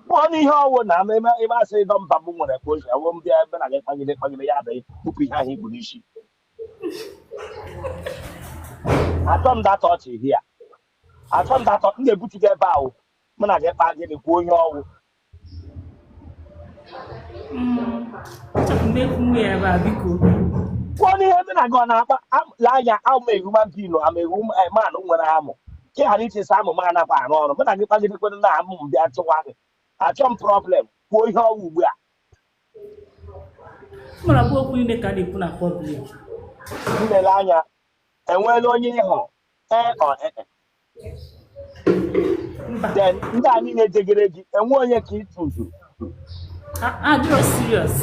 kwuo ihe ọwụ na ama ebe ebe asị dọ mba mbụ nwere ka o si awụ ndị ebe na gị kpagide kpagide ya adịghị tupu ihe ahụ ikpuru isi atọ m data ọchị hi ya atọ m data m na-ebutu gị ebe ahụ mụ na gị kpaa gịnị kwuo ihe ọwụ Mmekwunwe ya ebe a biko. kwuo n'ihe ndị na gị ọ na-akpa am- lee anya I'm a human being I'm a human nwere amụ ka ị ghara iche sị amụ m anakwa arụ ọrụ mụ na gị kpagidekwana na amụ m bịa chụwa gị achọ m problem kwuo ihe ọwụ ugbu a mara bụ okwu niile ka a na-ekwu na public nne lee anya enweela onye ị hụrụ ee ọ ee e. mba then ndị a niile jegere gị enwe onye ka ị tụzu a- adịrọ serious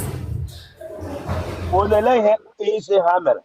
olele ihe ị sị ha mere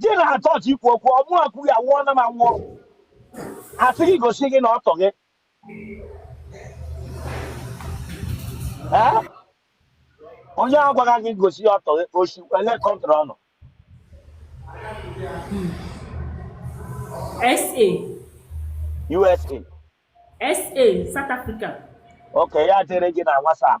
gị na ha chọọchị ikwu okwu ọmụ akwughị awụọ na m anwụọ asị gị gosi gị na ọtọ gị Ee? onye a gwara gị gosi ya ọtọ gị o si ele country ọ nọ sa usa sa south africa okay ya dere gị na whatsapp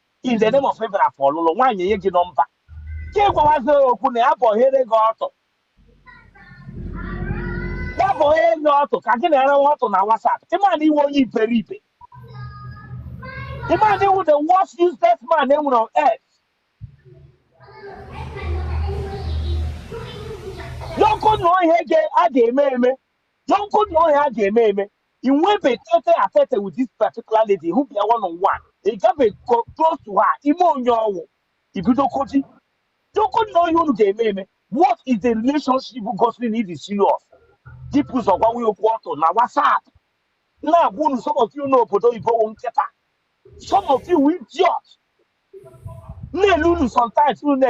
in the name of abịara for ọlụlụ nwaanyị enye gị nọmba ka ị gwawazi okwu na ya bọhere gị ọtụ ya bọhere gị ọtụ ka gị na ya ranwa ọtụ na WhatsApp ị ma na ị wụ onye iberibe ị ma na ị wụ the worst useless man e nwere on earth doko na ọ ihe a ga-eme eme doko na ọ ihe a ga-eme eme ị nwebe tete a tete with this particular lady hụbe ya one on one ị gabe co- close to her ị ma onye ọwụ i bido koji doko na ọ ihe unu ga-eme eme what is the relationship gosiri na ị dị serious dịpụ ụzọ gwanwe ya okwu ọtụ na whatsapp m na-agwa unu some of you n'obodo oyibo wụ nkịta some of you wụ idiot na-ele unu sometimes unu na